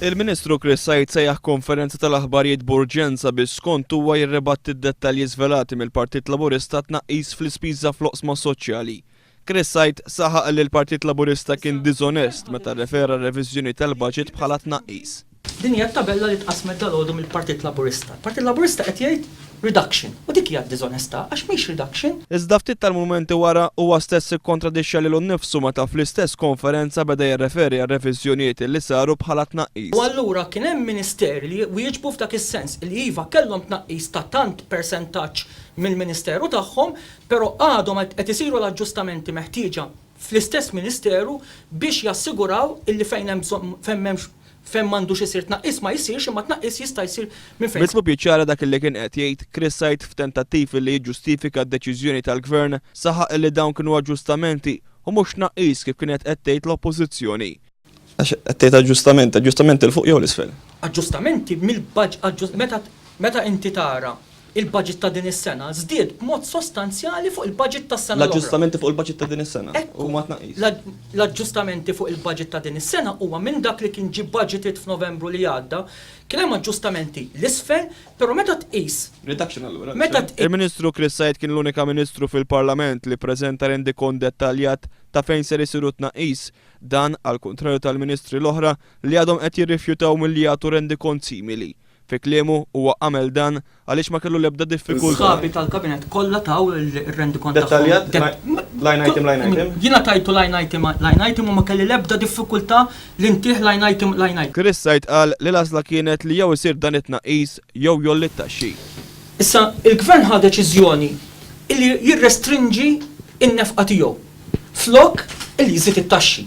Il-Ministru Chris Said sejjaħ konferenza tal-aħbarijiet b'urġenza biex skont huwa jirribatti d-dettalji żvelati mill-Partit Laburista għat-tnaqqis fl-ispiża fl-oqsma soċjali. Chris Said saħaq li l-Partit Laburista kien diżonest meta rrefera r-reviżjoni tal-baġit bħala tnaqqis. Din hija t-tabella li tqassmet dalgħodu mill-Partit Laburista. Il-Partit Laburista qed jgħid reduction u dik hija d-diżonestà għax mhix reduction. Iżda ftit tal-mumenti wara, huwa stess ikkontradixxa lilu nnifsu meta fl-istess konferenza beda jirreferi għar-reviżjonijiet li saru bħala tnaqqis. U allura kien hemm Ministeri li wieġbu f'dak is-sens, li iva kellhom tnaqqis ta' tant persentaġġ mill-Ministeru tagħhom, però għadhom qed isiru l-aġġustamenti meħtieġa. fl-istess ministeru biex jassiguraw illi fejn hemm bżonn fejn m'hemmx fejn m'għandux isir tnaqqis ma jsirx imma t-tnaqqis jista' jsir minn fejn Mitlu Piċara dak illi kien qed jgħid Chris Said f'tentattiv illi jiġġustifika d-deċiżjoni tal-Gvern saħaq illi dawn kienu aġġustamenti u mhux tnaqqis kif kienet qed tgħid l-Oppożizzjoni. Għax qed tgħid aġġustament, aġġustament 'il fuq jew 'l isfel? Aġġustamenti mill-budget, meta inti tara l-budget ta' din is-sena żdied b'mod sostanzjali fuq il-budget tas-sena l-oħra. L-aġġustamenti fuq il-budget ta' din is-sena huma tnaqqis. L-aġġustamenti fuq il-budget ta' din is-sena huwa minn dak li kien ġie budgeted f'Novembru li għadda, kien hemm aġġustamenti 'l isfel, però meta tqis. Reduction allura. Meta tqis. Il-Ministru Chris Said kien l-unika Ministru fil-Parlament li ppreżenta rendikont dettaljat ta' fejn ser isiru t-tnaqqis Dan għall-kuntrarju tal-Ministri l-oħra li għadhom qed jirrifjutaw milli jagħtu rendikont simili. Fi kliemu, huwa għamel dan għaliex ma kellu l-ebda diffikultà. Is-Sħabi tal-Kabinett kollha taw ir-rendikont tagħhom. Dettaljat, line item, line item. Jiena tajtu line item, line item u ma kelli l-ebda diffikultà li ntih line item, line item. Chris Said qal li l-għażla kienet li jew isir dan it-tnaqqis jew jgħolli t-taxxi. Issa, il-Gvern ħa deċiżjoni li jirrestrinġi n-nefqa tiegħu flok li jżid it-taxxi.